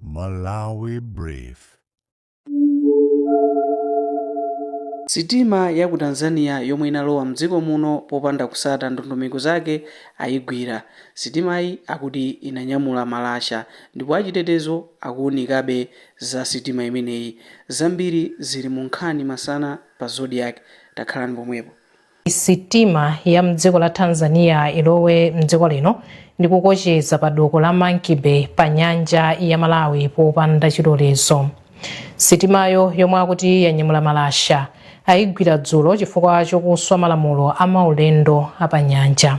Malawi Brief. Sitima ya ku Tanzania yomwe inalowa mdziko muno popanda kutsata ndondomeko zake ayigwira. Sitimayi akuti inanyamula malasha ndipo achitetezo akuunikabe za sitima imeneyi. Zambiri zili mu nkhani masana pa Zodiak. Takhalani pomwepo. Sitima ya mdziko la Tanzania ilowa mdziko lino ndi kukocheza pa doko la Monkey Bay pa nyanja ya Malawi popanda chilolezo. Sitimayo yomwe akuti yanyamula malasha ayigwira dzulo chifukwa chokuswa malamulo a maulendo a pa nyanja.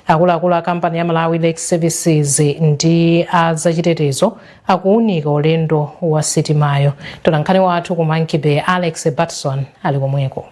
Akuluakulu a kampani ya Malawi Lake Services ndi a zachitetezo akuwunika ulendo wa sitimayo. Mtolankhani wathu ku Monkey Bay Alex Batson ali komweko.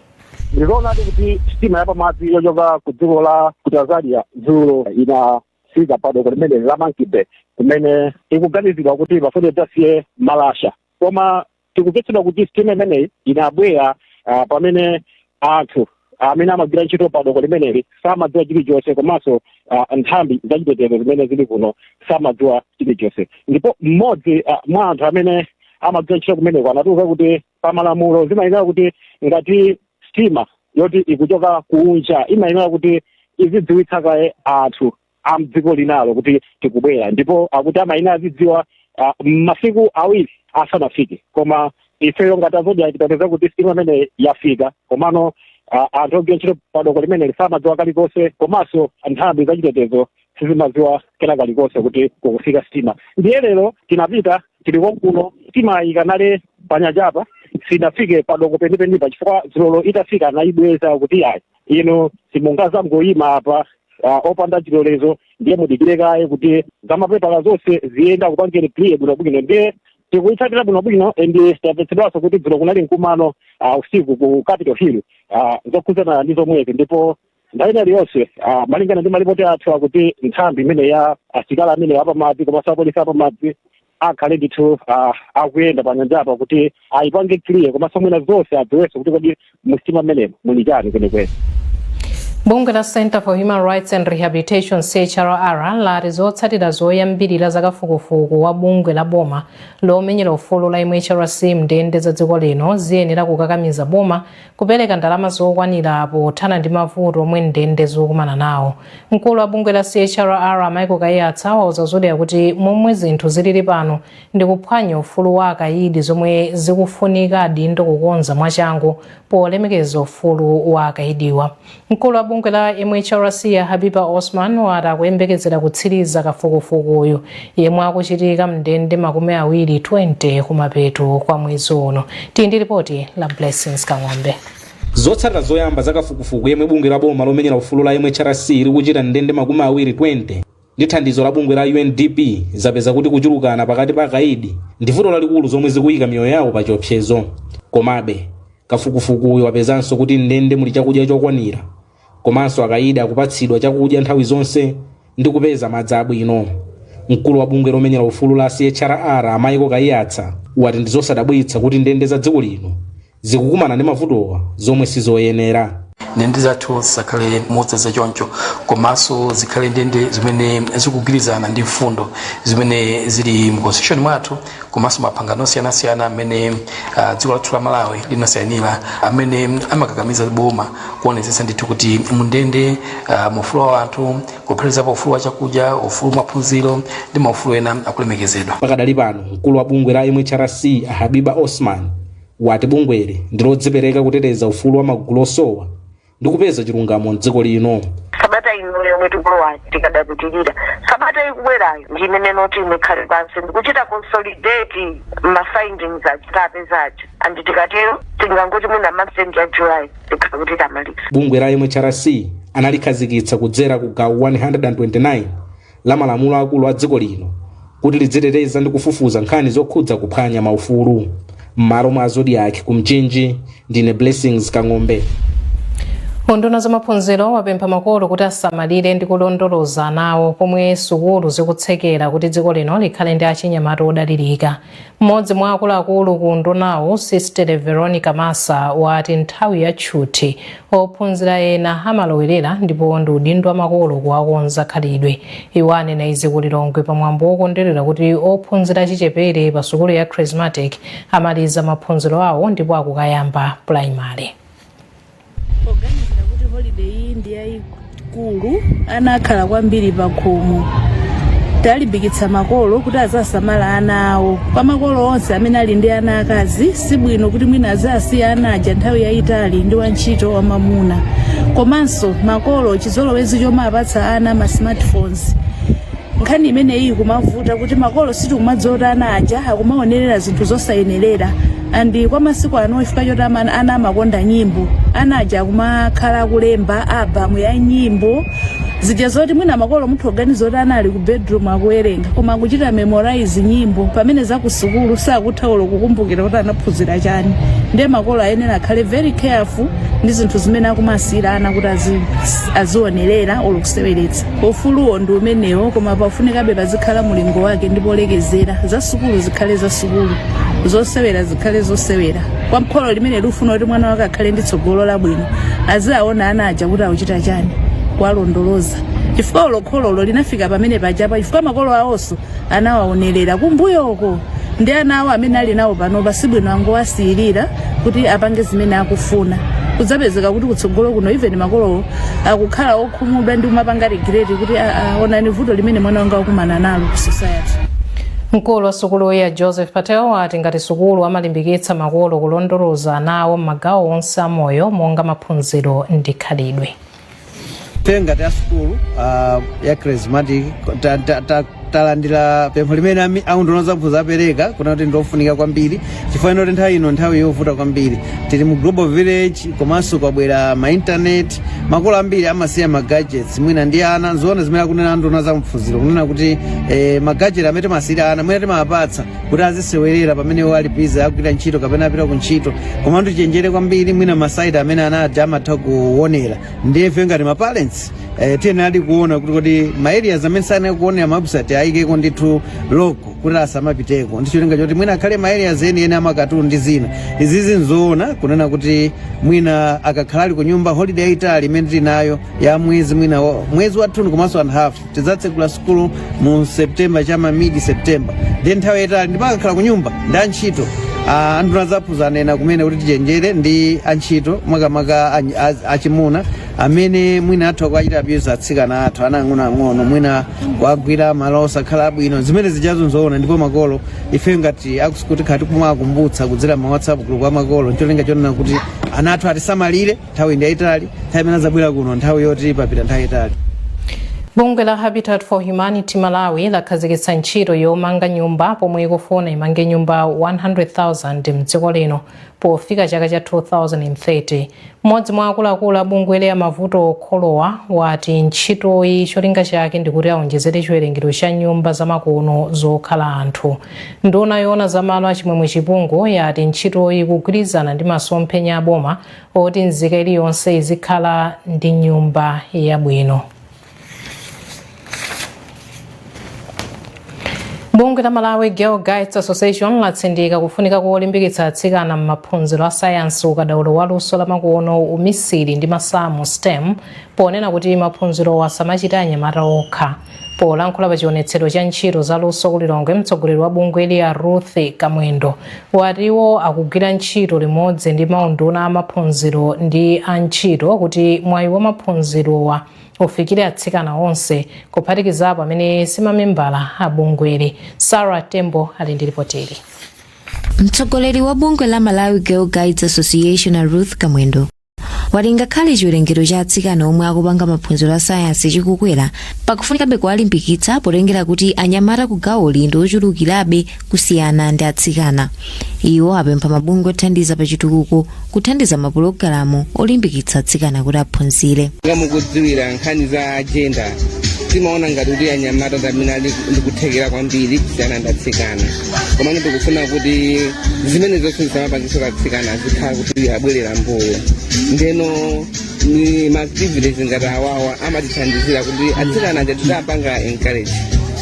Ndi zoonadi kuti sitima yapamadzi yochoka ku dziko la ku Tanzania dzulo inafika pa doko limeneli la Monkey Bay kumene ikuganizidwa kuti imafuna idzasiye malasha koma tikutsitsidwa kuti sitima imeneyi inabwera ah, pamene anthu amene amagwira ntchito pa doko limeneli samadziwa chilichonse komanso ah, nthambi zachitetezo zimene zili kuno samadziwa chilichonse ndipo mmodzi ah, mwa anthu amene amagwira ntchito kumeneko anatiuza kuti pa malamulo zimayenera kuti ngati sitima yoti ikuchoka kunja imayenera kuti izidziwitsa kaye anthu a mdziko linalo kuti tikubwera ndipo akuti amayenera azidziwa ah, masiku awiri asanafike koma ifeyo ngati a Zodiak tinapeza kuti sitima imeneyi yafika komano ah, anthu ogwira ntchito padoko limeneli samadziwa kalikonse komanso nthambi zachitetezo sizimadziwa kena kalikonse kuti kukufika sitima ndiye lero tinapita tili konkuno sitima ikanali panyanjapa sinafike padoko penipenipa chifukwa dzulo itafika anayibweza kuti ayi inu simungazangoyima apa ah, opanda chilolezo ndiye mudikire kaye kuti zamapepala zonse ziyende akupangeni clear bwinobwino ndiye tikuyitsatira bwinobwino and tatsitsidwanso kuti dzulo kunali mkumano ah, usiku ku capital hill ah, zokhudzana ndi zomwezi ndipo nthawi ina iliyonse ah, malingana ndi malipoti athu akuti nthambi imeneyi ya asilikali amene apamadzi komanso apolisi apamadzi akhale ndithu ah, akuyenda pa nyanjapa kuti ayipange clear komanso mwina zonse adziwenso kuti kodi musitima mmenemo muli chani kwenikweni bungwe la center for human rights and rehabilitation chrr lati zotsatira zoyambirira za kafukufuku wa bungwe la boma lomenyera ufulu la mhrc mndende za dziko lino ziyenera kukakamiza boma kupereka ndalama zokwanira pothana ndi mavuto omwe ndende zikukumana nawo mkulu wa bungwe la chrr michael kaiyatsa wauza zodiak kuti momwe zinthu zilili pano ndi kuphwanya ufulu wa akayidi zomwe zikufunika adindo kukonza mwachangu polemekeza ufulu wa akayidiwa Mkulu wa bungwe la MHRC a Habiba Osman wati akuyembekezera kutsiliza kafukufukuyu yemwe akuchitika m'ndende makumi awiri 20 kumapeto kwa mwezi uno. Tili ndi lipoti la Blessings Kang'ombe. Zotsatira zoyamba za kafukufuku yemwe bungwe la boma lomenyera ufulu la MHRC likuchita m'ndende makumi awiri 20 ndi thandizo la bungwe la UNDP zapeza kuti kuchulukana pakati pa akaidi ndi vuto lalikulu zomwe zikuyika miyoyo yawo pa chiopsezo. Komabe, kafukufukuyu wapezanso kuti m'ndende muli chakudya chokwanira, komanso akaidi akupatsidwa chakudya nthawi zonse ndi kupeza madzi abwino. Mkulu wa bungwe lomenyera ufulu la CHRR a Michael Kaiyatsa wati ndi zosadabwitsa kuti ndende za dziko lino zikukumana ndi mavutowa zomwe sizoyenera ndende zathu zisakhale modzadza choncho komanso zikhale ndende zimene zikugwirizana ndi mfundo zimene zili mu constitution mwathu komanso mapangano osiyanasiyana amene uh, dziko lathu la malawi linasainira amene amakakamiza boma kuonetsetsa ndithu kuti mundende uh, maufulu a anthu kuphatikizapo ufulu wa chakudya ufulu wa maphunziro ndi maufulu ena akulemekezedwa pakadali pano mkulu wa bungwe la mhrc habiba osman wati bungweli ndi lodzipereka kuteteza ufulu wa magulu osowa ndi kupeza chilungamo m'dziko lino sabata ino yomwe tikulowa tikadapitirira sabata ikubwerayo ndi imene noti imekhale pansi ndikuchita consolidate ma findings aja tapeza aja and tikatero tingangoti mwina mapsenti ya july tikhala kuti tamaliza bungwe la mhrc analikhazikitsa kudzera ku gawo 129 la malamulo akulu a dziko lino kuti lidziteteza ndi kufufuza nkhani zokhudza kuphwanya maufulu m'malo mwa zodiak ku mchinji ndine blessings kang'ombe unduna za maphunziro wapempha makolo kuti asamalire ndi kulondoloza anawo pomwe sukulu zikutsekera kuti dziko lino likhale ndi achinyamata odalirika Mmodzi mwa akuluakulu ku undunawu, Sister Veronica Massa, wati nthawi ya tchuthi, ophunzira ena amalowerera ndipo ndi udindo wa makolo kuwakonza khalidwe. Iwo anena izi ku Lilongwe pa mwambo wokondwerera kuti ophunzira achichepere pa sukulu ya Chrismatic amaliza maphunziro awo ndipo akukayamba primary. poganizira kuti holiday iyi ndi yayikulu ana akhala kwambiri pa khomo talimbikitsa makolo kuti azasamala ana awo kwa makolo onse amene ali ndi ana akazi si bwino kuti mwina azasiya ana aja nthawi yayitali ndi wantchito wamamuna komanso makolo chizolowezi chomawapatsa ana ma smartphones nkhani imeneyi kumavuta kuti makolo sitikumadziwa kuti ana aja akumaonerera zinthu zosayenerera and kwa masiku ano chifukwa choti ama- ana amakonda nyimbo ana aja akumakhala akulemba album ya nyimbo zija zoti mwina makolo mutha kuganiza kuti ana ali ku bedroom akuwerenga koma akuchita memorize nyimbo pamene zakusukulu sakutha olo kukumbukira kuti anaphunzira chani ndiye makolo ayenera akhale very careful ndi zinthu zimene akumasiyira ana kuti azi- azionerera olo kuseweretsa Ufuluwo ndi umenewo, koma pafunikabe pazikhala mulingo wake ndi polekezera. Za sukulu zikhale za sukulu, zosewera zikhale zosewera. Kwa mkholo limene likufuna kuti mwana wake akhale ndi tsogolo labwino, aziaona ana aja kuti akuchita chani, kuwalondoloza chifukwa olo khololo linafika pamene pajapa chifukwa makolo awonso anawaonerera kumbuyoko ndi ana awo amene ali nawo panopa sibwino angowasiyirira kuti apange zimene akufuna kudzapezeka kuti kutsogolo kuno even makolowo akukhala okhumudwa ndi kumapanga regret kuti "Ah, ah, onani vuto limene mwana wanga wakumana nalo ku society mkulu wa sukulu ya joseph patel wati ngati sukulu amalimbikitsa makolo kulondoloza ana awo m'magawo onse a moyo monga maphunziro ndi khalidwe ife ngati a sukulu uh, ya charismatic ta- ta- ta- talandira pempho limene ami- aunduna zamaphunziro apereka kunena kuti ndi ofunika kwambiri chifukwa inoti nthawi ino nthawi yovuta kwambiri tili mu global village komanso kwabwera ma internet makolo ambiri amasiya ma gadgets mwina ndi ana nzoona zimene akunena anduna za maphunziro kunena kuti eh, ma gadget amene timasiyira ana mwina timawapatsa kuti azisewerera pamene iwo ali busy akugwira ntchito kapena apita ku ntchito koma tichenjere kwambiri mwina ma site amene ana aja amatha kuonera ndiye ife ngati maparents eh, tiyenera ali kuona kuti kodi ma areas amene sayenera kuonera mawebsite ayikeko ndithu lock kuti asamapiteko ndi cholinga choti mwina akhale ma areas enieni amakatuni ndi zina izizi nzoona kunena kuti mwina akakhala ali ku nyumba holiday yaitali imene tili nayo ya mwezi mwina wa- mwezi wathunthu komanso and half tidzatsegula sukulu mu september cha ma mid september then nthawi yayitali ndipo akakhala ku nyumba ndi antchito Ah, anduna zamaphunziro anena kumene kuti tichenjere ndi antchito makamaka anyi- az- achimuna amene mwina atha kuwachita abuse atsikana athu ana ang'onoang'ono mwina kuwagwira malo osakhala abwino zimene zijazo nzoona ndipo makolo ife ngati akusukulu tikhala tikumakumbutsa kudzera ma whatsapp group a makolo ncholinga chonena kuti ana athu atisamalire nthawi ndi yayitali nthawi imene adzabwera kuno nthawi yoti papita nthawi yayitali bungwe la habitat for humanity malawi lakhazikitsa ntchito yomanga nyumba pomwe ikufuna imange nyumba 100,000 mdziko lino pofika chaka cha 2030 mmodzi mwa akuluakulu a bungweli a mavuto okholowa wati ntchitoyi cholinga chake ndikuti aonjezere chiwerengero cha nyumba zamakono zokhala anthu nduna yoona za malo a chimwemwe chipungu yati ntchitoyi ikugwirizana ndi masomphenya aboma oti nzika iliyonse izikhala ndi nyumba yabwino bungwe la malawi girl guides association latsindika kufunika kolimbikitsa atsikana m'maphunziro a sayansi ukadaulo wa luso lamakono umisiri ndi masamu stem ponena kuti maphunzirowa asamachita anyamata okha polankhula pa chionetsero cha ntchito za luso ku lilongwe mtsogoleri wa bungweli a ruth kamwendo wati iwo akugwira ntchito limodzi ndi maunduna a maphunziro ndi a ntchito kuti mwayi wa maphunzirowa ufikire atsikana onse kuphatikizapo amene si mamembala a bungweli sara tembo ali ndi ripoteli mtsogoleri wa bungwe la malawi girl guides association a ruth kamwendo wati ngakhale chiwerengero cha atsikana omwe akupanga maphunziro a sayansi chikukwera pakufunikabe kuwalimbikitsa potengera kuti anyamata ku gawoli ndi ochulukirabe kusiyana ndi atsikana iwo apempha mabungwe othandiza pa chitukuko kuthandiza mapulogalamu olimbikitsa atsikana kuti aphunzire monga mukudziwira nkhani za jenda timaona ngati kuti anyamata ndamene ali ndikuthekera kwambiri kusiyana ndi atsikana koma ine ndikufuna kuti zimene zonse zisamapangitse atsikana azikhala kuti abwerera mbuyo ndeno maactivities ngati awawa amatithandizira kuti atsikana aja tiziwapanga encourage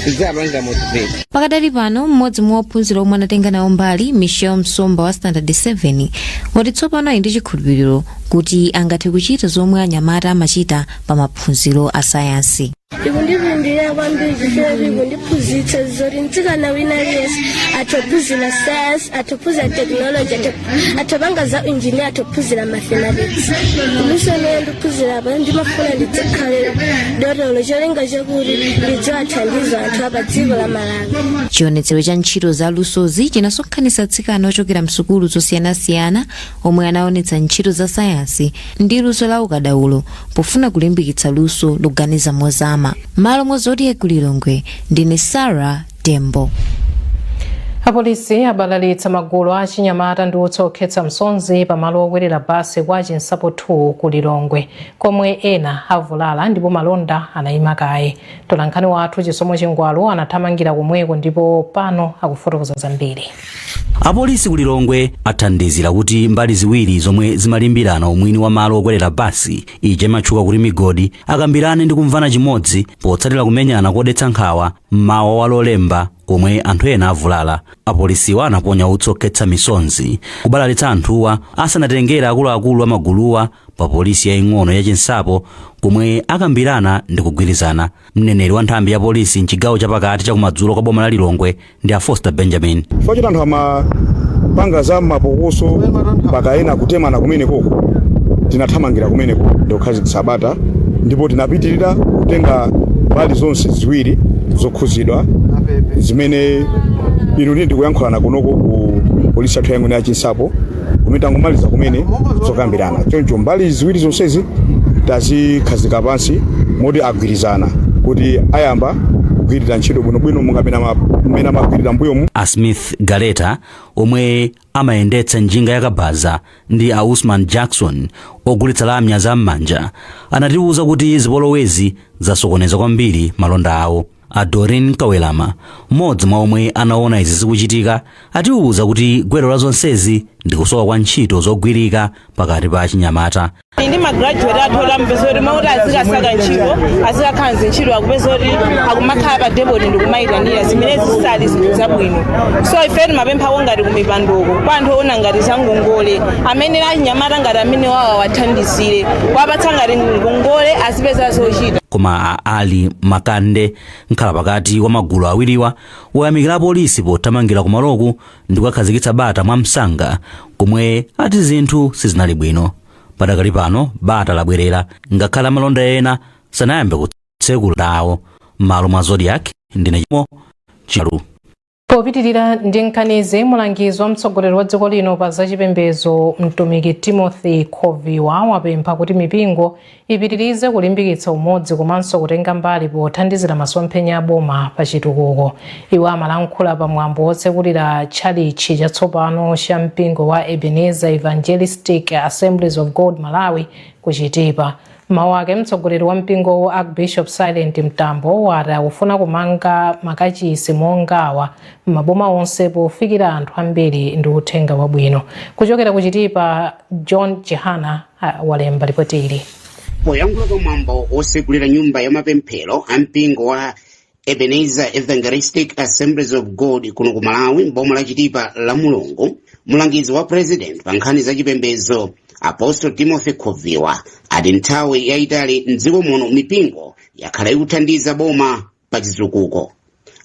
tiziwapanga motivate pakadali pano mmodzi mwa ophunzira omwe anatenga nawo mbali michelle msomba wa standard 7 wati tsopano ali ndi chikhulupiriro kuti angathe kuchita zomwe anyamata amachita pa maphunziro a sayansi ikundipindulira kwambiri chifukwa ikundiphunzitsa zoti mtsikana wina aliyense athophunzira sayansi athophunzira tekinoloji athopanga za injiniya athophunzira mathematics luso limene ndikuphunzira apa ndimafuna ndidzakhale dotolo cholinga chakuti ndidzawathandize anthu a pa dziko la malawi chionetsero cha ntchito za lusozi chinasonkhanitsa atsikana ochokera msukulu zosiyanasiyana omwe anaonetsa ntchito za sayansi ndi luso la ukadaulo pofuna kulimbikitsa luso loganiza mozama mmalo mwa zodiak ku lilongwe ndine sara tembo apolisi abalalitsa magulu a achinyamata ndi utsi okhetsa misonzi pamalo okwerera basi kwa chinsapo 2 ku lilongwe komwe ena avulala ndipo malonda anayima kaye mtolankhani wathu chisomo chingwalu anathamangira komweko ndipo pano akufotokoza zambiri Apolisi ku Lilongwe athandizira kuti mbali ziwiri zomwe zimalimbirana umwini wa malo okwerera basi ija imatchuka kuti migodi akambirane ndi kumvana chimodzi potsatira kumenyana kodetsa nkhawa mmawa wa Lolemba komwe anthu ena avulala. Apolisiwa anaponya utsi okhetsa misonzi kubalalitsa anthuwa asanatengere akuluakulu amaguluwa pa polisi yaing'ono ya Chinsapo komwe akambirana ndi kugwirizana. Mneneri wa nthambi ya polisi mchigawo chapakati chakumadzulo kwa boma la Lilongwe ndi a Foster Benjamin. chifukwa choti anthu amapanga za mapokoso mpaka ena kutemana kumenekoko tinathamangira kumeneko ndikukhazikitsa bata ndipo tinapitirira kutenga mbali zonse ziwiri zokhuzidwa zimene inu ndi ine tikuyankhulana kunoko ku polisi yathu yaing'ono ya chinsapo kumene tangomaliza kumene zokambirana choncho mbali ziwiri zonsezi tazikhazika pansi moti agwirizana kuti ayamba kugwirira ntchito bwinobwino monga mmene amagwirira mbuyomu a smith galeta omwe amayendetsa njinga yakabaza ndi a usman jackson ogulitsa lamya za m'manja anatiwuza kuti zipolowezi zasokoneza kwambiri malonda awo a doreen kawelama mmodzi mwa omwe anaona izi zikuchitika atiwuza kuti gwero la zonsezi ndi kusowa kwa ntchito zogwirika pakati pa achinyamata ndi magraduate athu oti umapeza kuti m'malo moti azikasaka ntchito azikakhala m'zintchito akupeza kuti akumakhala pa depoti ndikumayitanira zimene zisali zinthu zabwino so ife timapemphako ngati kumipandoko kwa anthu oona ngati za ngongole amene achinyamata ngati amene awawa awathandizire kuwapatsa ngati ngongole azipeza zochita koma a ali makande nkhala pakati wa magulu awiriwa ayamikira apolisi pothamangira kumaloku ndi kukakhazikitsa bata mwa msanga komwe ati zinthu sizinali bwino padakali pano bata labwerera ngakhale amalonda ena sanayambe kutsekula malonda awo m'malo mwa zodiak ndine chimo charu Popitirira ndi nkhanizi, mulangizi wa mtsogoleri wa dziko lino pa zachipembedzo mtumiki Timothy Khoviwa wapempha kuti mipingo ipitirize kulimbikitsa umodzi komanso kutenga mbali pothandizira masomphenya a boma pa chitukuko. Iwo amalankhula pa mwambo wotsekulira tchalitchi chatsopano cha mpingo wa Ebenezer Evangelistic Assemblies of God Malawi ku Chitipa. M'mawu ake mtsogoleri wa mpingowu Archbishop Silent Mtambo wati akufuna kumanga makachisi mongawa m'maboma onse pofikira anthu ambiri ndi uthenga wabwino. Kuchokera ku Chitipa, John Chihana walemba ripoti ili. poyankhula pa mwambo wotsekulira nyumba ya mapemphero a mpingo wa ebenezer evangelistic assemblies of god kuno ku malawi m'boma la chitipa la mulungu mlangizi wa president pa nkhani za chipembedzo apostle timothy khoviwa ati kwa nthawi yayitali mdziko muno mipingo yakhala ikuthandiza boma pa chitukuko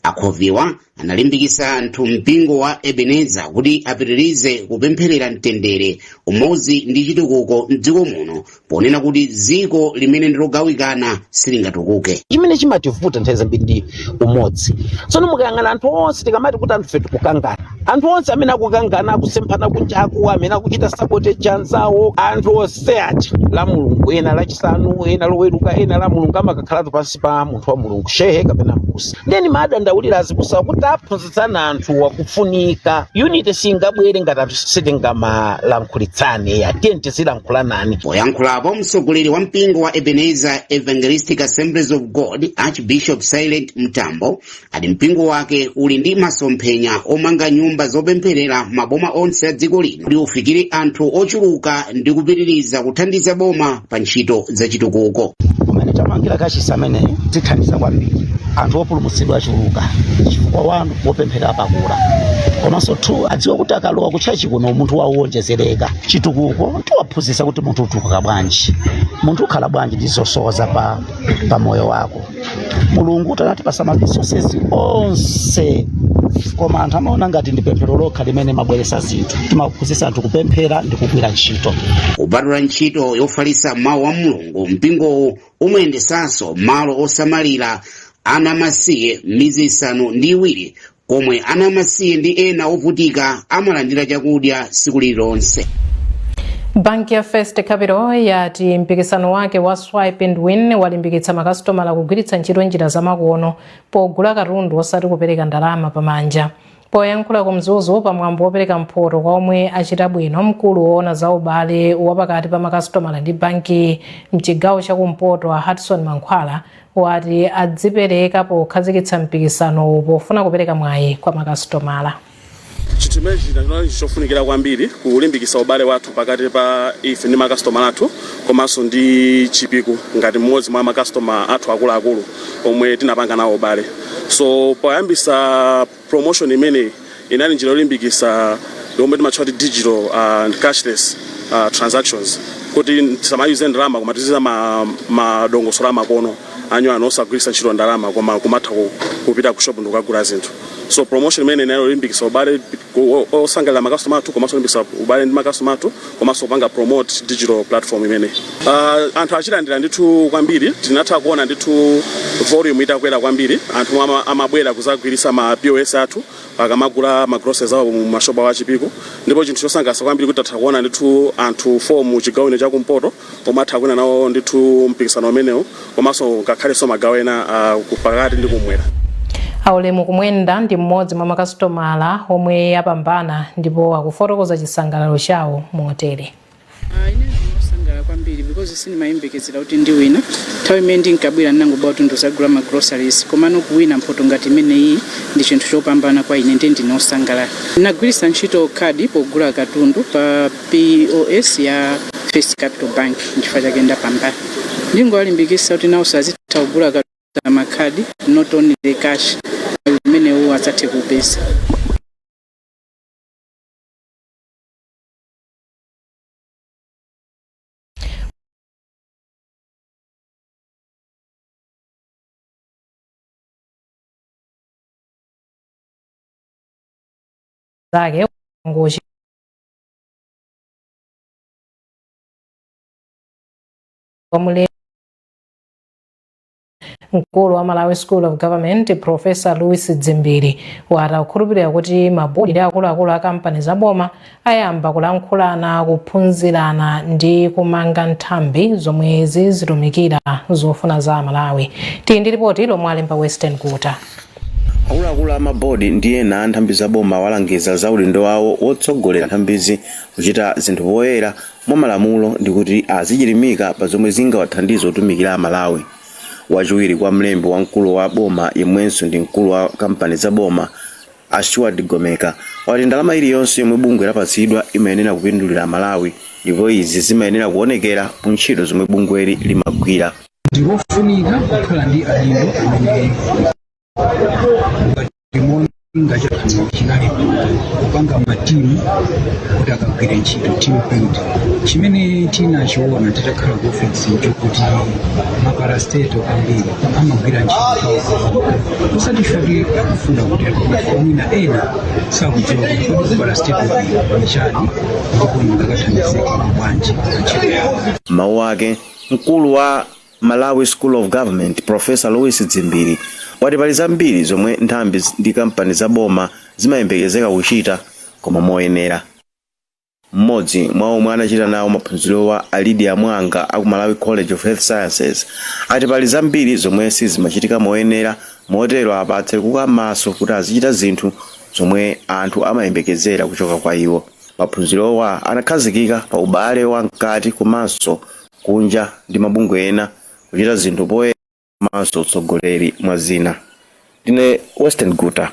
a khoviwa analimbikitsa anthu a mpingo wa ebenezer kuti apitirize kupempherera mtendere umodzi ndi chitukuko mdziko muno ponena kuti dziko limene ndi logawikana silingatukuke chimene chimativuta nthawi zambiri ndi umodzi tsono mukayang'ana anthu onse tikamati kuti anthufe tikukangana anthu onse amene akukangana akusemphana kunjaku amene akuchita sabotage anzawo anthu onse aja la mulungu ena lachisanu ena loweruka ena la mulungu amakakhalatu pansi pa munthu wa mulungu shehe kapena mbusa ndiye ndimadandaulira azibusawo kuti aphunzitsa kulankhulitsana anthuwa kufunika unity singabwere ngati anthu sitingamalankhulitsane ya tiye tizilankhulanani poyankhulapo mtsogoleri wa mpingo wa ebenezer evangelistic assemblies of god archbishop silent mtambo ati mpingo wake uli ndi masomphenya omanga nyumba zopempherera maboma onse a dziko lino kuti ufikire anthu ochuluka ndi kupitiriza kuthandiza boma pa ntchito zachitukuko kumene tamangira kachisi ameneyo tithandiza kwambiri anthu opulumutsidwa achuluka chifukwa malo opempherera apa akula komanso anthu adziwa kuti akalowa kutchachi kuno umunthu wawo uwonjezereka chitukuko tiwaphunzitsa kuti munthu utukuka bwanji munthu ukhala bwanji ndi zosowa za pa, pa moyo wako mulungutu anatipasa ma resources onse koma anthu amaona ngati ndi pemphero lokha limene limabweresa zinthu timaphunzitsa anthu kupemphera ndi kugwira ntchito kupatula ntchito yofalitsa mawu a mulungu mpingowu umayendesanso malo osamalira ana amasiye mmidzi isanu ndi iwiri komwe ana amasiye ndi ena ovutika amalandira chakudya tsiku lililonse banki ya first capital yati mpikisano wake wa swipe and win walimbikitsa makasitomala kugwiritsa ntchito njira zamakono pogula katundu osati kupereka ndalama pamanja poyankhula ku mzuzu pa mwambo wopereka mphoto kwa omwe achita bwino mkulu woona za ubale wapakati pa makasitomala ndi banki mchigawo cha kumpoto a hudson mankhwala wati adzipereka pokhazikitsa mpikisanowu pofuna kupereka mwayi kwa makasitomala chinthu chimenechi chinali chofunikira kwambiri kulimbikitsa ubale wathu pakati pa ife ndi makasitomala athu komanso ndi chipiku ngati mmodzi mwa makasitoma athu akuluakulu omwe tinapanga nawo ubale so poyambisa Promotion imeneyi inali njira yolimbikitsa yomwe timatchula kuti digital and cashless uh, transactions kuti tisamayuze ndalama koma tiziyuza ma, madongosolo amakono anyuwani osagwiritsa ntchito ndalama koma kumatha ku- kupita ku shop ndikukagula zinthu so promotion imeneyi inali yolimbikitsa ubale ku- o- osangalira makasitoma athu komanso olimbikitsa ubale ndi makasitoma athu komanso kupanga promote digital platform imeneyi uh, anthu achilandira ndithu kwambiri tinatha kuona ndithu volume itakwera kwambiri anthu ama, amabwera kuzagwiritsa ma pos athu akamagula ma groceries awo mu mashopu awo a chipiku ndipo chinthu chosangalatsa kwambiri kuti tatha kuona ndithu anthu 4 mu chigawo chino chakumpoto omwe atha kuwina nawo ndithu mpikisano umenewu komanso ngakhalenso magawo ena ah, ku- pakati ndi kumwera aulemu kumwenda ndi mmodzi mwa makasitomala omwe apambana ndipo akufotokoza chisangalalo chawo motere Ah, ine ndine osangalala kwambiri because sindimayembekezera kuti ndiwina nthawi imene ndinkabwera ndinangobwera kuti ndizagula ma groceries komano kuwina mphoto ngati imeneyi ndi chinthu chopambana kwa ine ndiye ndine osangalala ndinagwiritsa ntchito khadi pogula katundu pa POS ya First Capital Bank nchifukwa chake ndapambana. Ndingowalimbikitsa kuti nawonso azitha kugula katundu pa makhadi not only the cash imene iwo angathe kupeza. zake ngochi kwa mule mkulu wa malawi school of government profesa louis dzimbiri wati akukhulupirira kuti mabodi ndi akuluakulu a kampani za boma ayamba kulankhulana kuphunzirana ndi kumanga nthambi zomwe zizitumikira zofuna za amalawi tili ndi lipoti lomwe alemba western guta Akuluakulu a ma board ndi ena a nthambi za boma awalangiza za udindo wawo wotsogolera nthambizi kuchita zinthu poyera, mwa malamulo ndi kuti azichilimika pa zomwe zingawathandize kutumikira Amalawi. Wachiwiri kwa mlembi wamkulu wa boma yemwenso ndi mkulu wa kampani za boma, a Stuart Ligomeka, wati ndalama iliyonse yomwe bungwe lapatsidwa imayenera kupindulira Amalawi ndipo izi zimayenera kuonekera mu ntchito zomwe bungweli limagwira. ndikofunika kukhala ndi adindo amene ngatimoni ngachakhala chinali kupanga matimu kuti akagwire ntchito team build chimene tinachiona titakhala ku ofesi chokuti maparasteto ambiri amagwira ntchito osati fake akufuna kuti mwina ena sakudziwa kuti kodi kuparasteto ndi chani ndipo ndingakathandizika bwanji pa ntchito yawo mawu ake Mkulu wa Malawi School of Government, Professor Louis Dzimbiri, wati pali zambiri zomwe nthambi ndi kampani za boma zimayembekezeka kuchita koma moyenera. Mmodzi mwa omwe anachita nawo maphunzirowa a Lydia Mwanga a ku Malawi College of Health Sciences ati pali zambiri zomwe sizimachitika moyenera motero apa atsekuka maso kuti azichita zinthu zomwe anthu amayembekezera kuchoka kwa iwo. Maphunzirowa anakhazikika pa ubale wa mkati komanso kunja ndi mabungwe ena, kuchita zinthu poyera komanso utsogoleri, mwa zina. Ndine Western Guta.